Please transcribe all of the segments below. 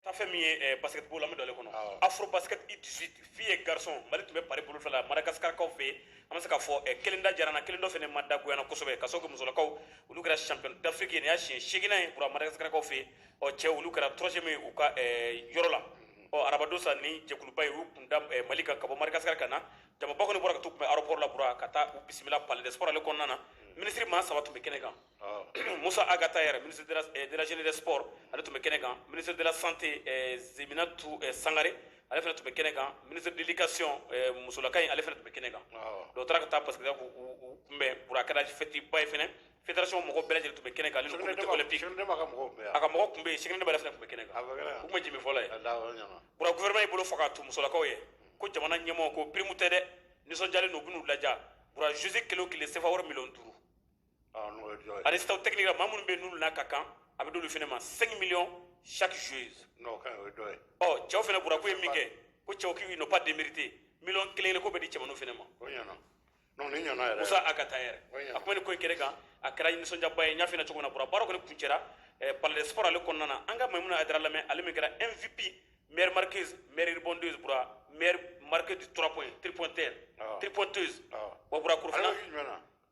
ta fɛn min ye eh, basketball la an bɛ don ale kɔnɔ Awɔ. afro basket U 18 filles et garçons mali tun bɛ pari bolo fila la madagaskarkaw fɛ yen an bɛ se k'a fɔ eh, kelen da diyara an na kelen dɔ fana ma da goya an na kosɛbɛ ka sababu kɛ musolakaw olu kɛra champion d'afrique ye nin y'a siɲɛ seeginan ye bura madagaskarkaw fɛ yen ɔ cɛ olu kɛra troisième ye u ka eh, yɔrɔ la ɔ arabadon sa ni jɛkuluba ye u kun da eh, mali kan ka bɔ madagaskar ka na jamaba kɔni bɔra ka t'u kunbɛn aéroport la bura ka taa u bisimila palais des sports ale kɔnɔna na minisiri maa saba tun bɛ kɛnɛ kan musa ag attaher ministre de la jeunesse des sports ale tun bɛ kɛnɛ kan ministre de la santé diéminatou sangare ale fana tun bɛ kɛnɛ kan ministre de l'éducation musolaka in ale fana tun bɛ kɛnɛ kan dɔw taara ka taa parce que k'u kunbɛn bura a kɛra fɛtiba ye fana fédération mɔgɔ bɛɛ lajɛlen tun bɛ kɛnɛ kan ale ni comité olympique a ka mɔgɔ tun bɛ yen sini ne' fana tun bɛ kɛnɛ kan u ma jimi fɔlɔ ye bura gouvernement y'i bolo fa ka t'u musolakaw ye ko jamana ɲɛmɔgɔ ko primu tɛ dɛ nisɔndiyalen don u bɛn'u ladiya bura joueuse kelen o kelen sefa wari miliyɔn duuru ani staff technique la maa minnu bɛ n'olu n'a ka kan a bɛ d'olu fana ma 5 millions chaque joueuse ɔ cɛw fana bura k'u ye min kɛ ko cɛw k'ils n'ont pas démérité miliyɔn kelen kelen ko bɛ di cɛmanninw fana ma musa ag attaher a kuma ni ko in kɛnɛ kan a kɛra nisɔndiyaba ye n y'a f'i ɲɛna cogo min na bura baara kɔni kuncɛra eh, palais des sports ale kɔnɔna na an ka maimuna haidara lamɛn ale min kɛra mvp meilleure marqueuse meilleure rebondeuse bura meilleure marqueuse du 3 points tripointeur tripointeuse wa bɔra korofina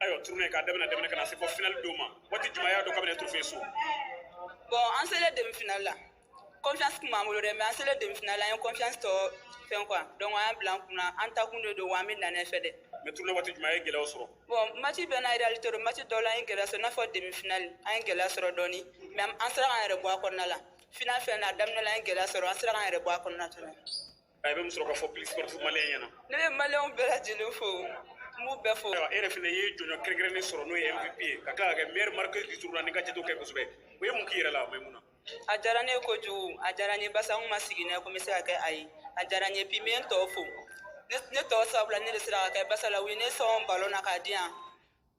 ayiwa tournoi k'a daminɛ daminɛ ka na se fɔ finali don ma waati jumɛn y'a dɔn k'aw bɛ nin trophée sɔrɔ bɔn an selen demi finali la confiance kun b'an bolo dɛ mais an selen demi finali la an ye confiance tɔ fɛn quoi donc an y'a bila an kunna an ta kun de don wa an bɛ na n'a ye fɛ dɛ mais tournoi waati jumɛn a ye gɛlɛyaw sɔrɔ bɔn mati bɛɛ n'a réalité don mati dɔw la an ye gɛlɛya sɔrɔ i n'a fɔ demi finali an ye gɛlɛya sɔrɔ dɔɔni mais an sera k'an yɛrɛ bɔ a kɔnɔna la final fɛnɛ a daminɛ la an ye gɛlɛya sɔrɔ an sera k'an yɛrɛ bɔ a kɔnɔna fɛnɛ A bɛ mun sɔrɔ ka fɔ public sportif malien ɲɛna ne bɛ maliyɛn bɛɛ lajɛlen fo n b'u bɛɛ fo e yɛrɛ fana ye jɔnjɔn kɛrɛnkɛrɛnnen sɔrɔ n'o ye mvp ye ka tila ka kɛ meilleure marqueuse du tournoi ni ka jate kɛ kosɛbɛ o ye mun k'i yɛrɛ la maimuna a diyara ne ye kojugu a diyara n ye basa n kun ma sigi n'a ye ko n bɛ se ka kɛ a ye a diyara n ye puis n bɛ n tɔw fo ne tɔw sabula ne de sera ka kɛ basa la u ye ne sɔn balɔn na k'a di yan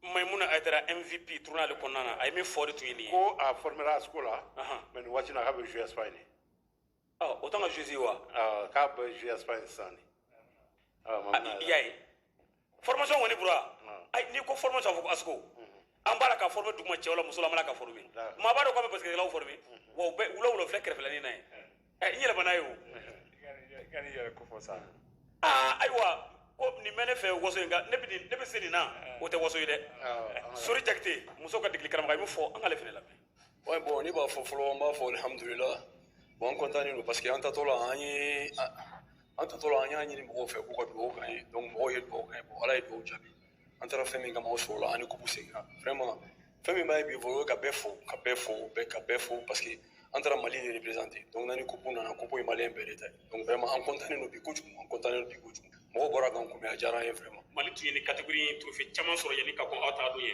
maimuna haidara mvp tournoi ale kɔnɔna na a ye min fɔ de tun ye nin ye ko a formera asiko la mais nin waati na k'a bɛ jouer espagne ɔ o t'an ka joueuse ye wa ɔ k'a bɛ jouer espagne sisan de ɔ mais i y'a ye formation kɔni bura ayi n'i ko formation a fɔ ko asiko an b'a la ka former duguma cɛw la muso la an b'a la ka former maa b'a dɔn k'an bɛ basikɛtikɛlaw former wa u bɛ wula wula filɛ kɛrɛfɛlanin na ye ɛ n yɛlɛmana ye o ka n'i yɛrɛ ko fɔ sa aa ayiwa ko nin bɛ ne fɛ waso in kan ne bɛ nin- ne bɛ se nin na o tɛ waso ye dɛ sori jakite musow ka degeli karamɔgɔ i bɛ fɔ an k'ale fana lamɛn Ouais, bon, ne b'a fɔ fɔlɔ an b'a fɔ alhamdulila bon an kɔntannen don parce que an tatɔ la an ye an tatɔ la an y'a ɲini mɔgɔw fɛ k'u ka dugawu k'an ye donc mɔgɔw ye dugawu k'an ye bon ala ye dugawu jaabi an taara fɛn min kama o sɔrɔla an ni kupu seginna vraiment fɛn min b'a ye bi fɔ o ye ka bɛɛ fo ka bɛɛ fo bɛɛ ka bɛɛ fo parce que an taara mali de représenter donc n'an ni kupu nana kupu ye maliyɛn bɛɛ de ta ye donc vraiment an kɔntannen don bi kojugu an kɔntannen don bi kojugu mɔgɔw bɔra k'an kunbɛn a diyara an ye vraiment mali tun ye ni catégorie in trophée caman sɔrɔ yanni ka kɔn aw taga don ye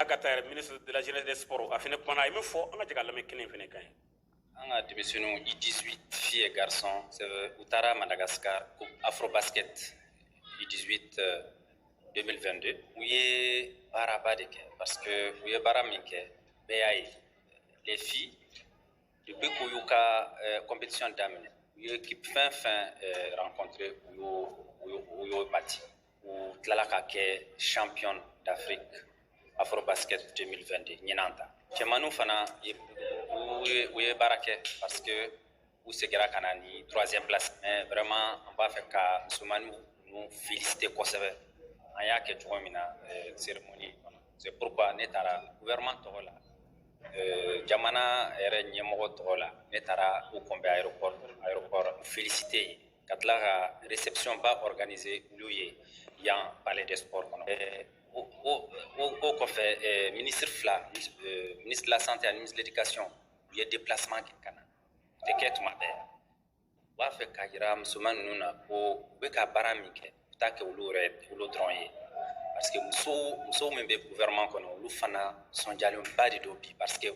A ka taa minisiri dajre de sɔrɔ a fana kuma i bɛ fɔ an ka tigɛ lammi kelen fana kan ye an ka denmisɛnww i di fi ye garisɔn u taara madagassi ka ko afro baseke i di den2de u ye baaraba de kɛ parce que u ye baara min kɛ bɛɛ y'a ye lefi u bɛ ko y'u ka kɔnmpsiɔn daminɛ u ye ki fɛn fɛn kɔnte u y u y' mati u tilala ka kɛ champion d'afrique afrobasket 2022 ɲinan ta cɛmanninw fana u ye baara kɛ parce que u segira ka na ni troisième place mais vraiment an b'a fɛ ka musomannin ninnu féliciter kosɛbɛ an y'a kɛ cogo min na euh, cérémonie kɔnɔ c'est pourquoi ne taara gouvernement tɔgɔ la euh, jamana yɛrɛ ɲɛmɔgɔ tɔgɔ la ne taara u kunbɛn aéroport aéroport féliciter yen ka tila ka réception ba organiser olu ye yan palais des sports kɔnɔ o kɔfɛ ministre fila euh, ministre de la santé ani ministre de l'éducation u ye déplacement kɛ ka na o tɛ kɛ tuma bɛɛ u b'a fɛ k'a jira musoman ninnu na ko u bɛ ka baara min kɛ u t'a kɛ olu yɛrɛ olu dɔrɔn ye parce que muso musow min bɛ gouvernement kɔnɔ olu fana sɔnjalenba de don bi parce que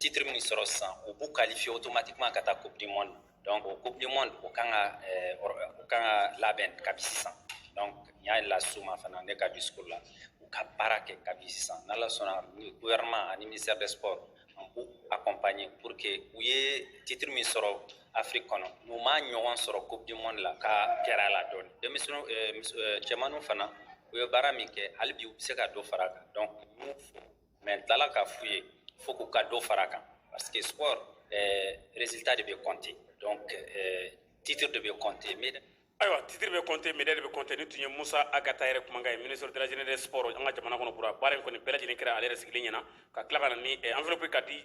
titre min sɔrɔ sisan u b'u qualifier automatiquement ka taa coupe du monde donc o coupe du monde o kan ka eh, o kan ka labɛn kabi sisan donc n y'a las'u ma fana ne ka discours la u ka baara kɛ kabi sisan n'ala sɔnna gouvernement ani ministère des sports an b'u accompagner pour que u ye titre min sɔrɔ afiriki kɔnɔ n'u m'a ɲɔgɔn sɔrɔ coupe du monde la ka gɛrɛ a la dɔɔni denmisɛnninw eh, eh, cɛmanninw fana u ye baara min kɛ hali bi u bɛ se ka dɔ fara a kan donc n b'u fo Mɛ tilala ka f' ye fo k'u ka don fara kan parce que s rezta de bɛ kɔnte tito de bɛ kɔnte mid ayiwa titiri bɛ kɔnte mid de bɛ kɔnte ni tun ye musa a ka taa yɛrɛ kumakan ye mini sɔrɔ dajre de s an ka jamana kɔnɔ kura baara in kɔni bɛɛ lajɛlen kɛra ale yɛrɛ sigilen ɲɛna ka tila ka na anfiri ka di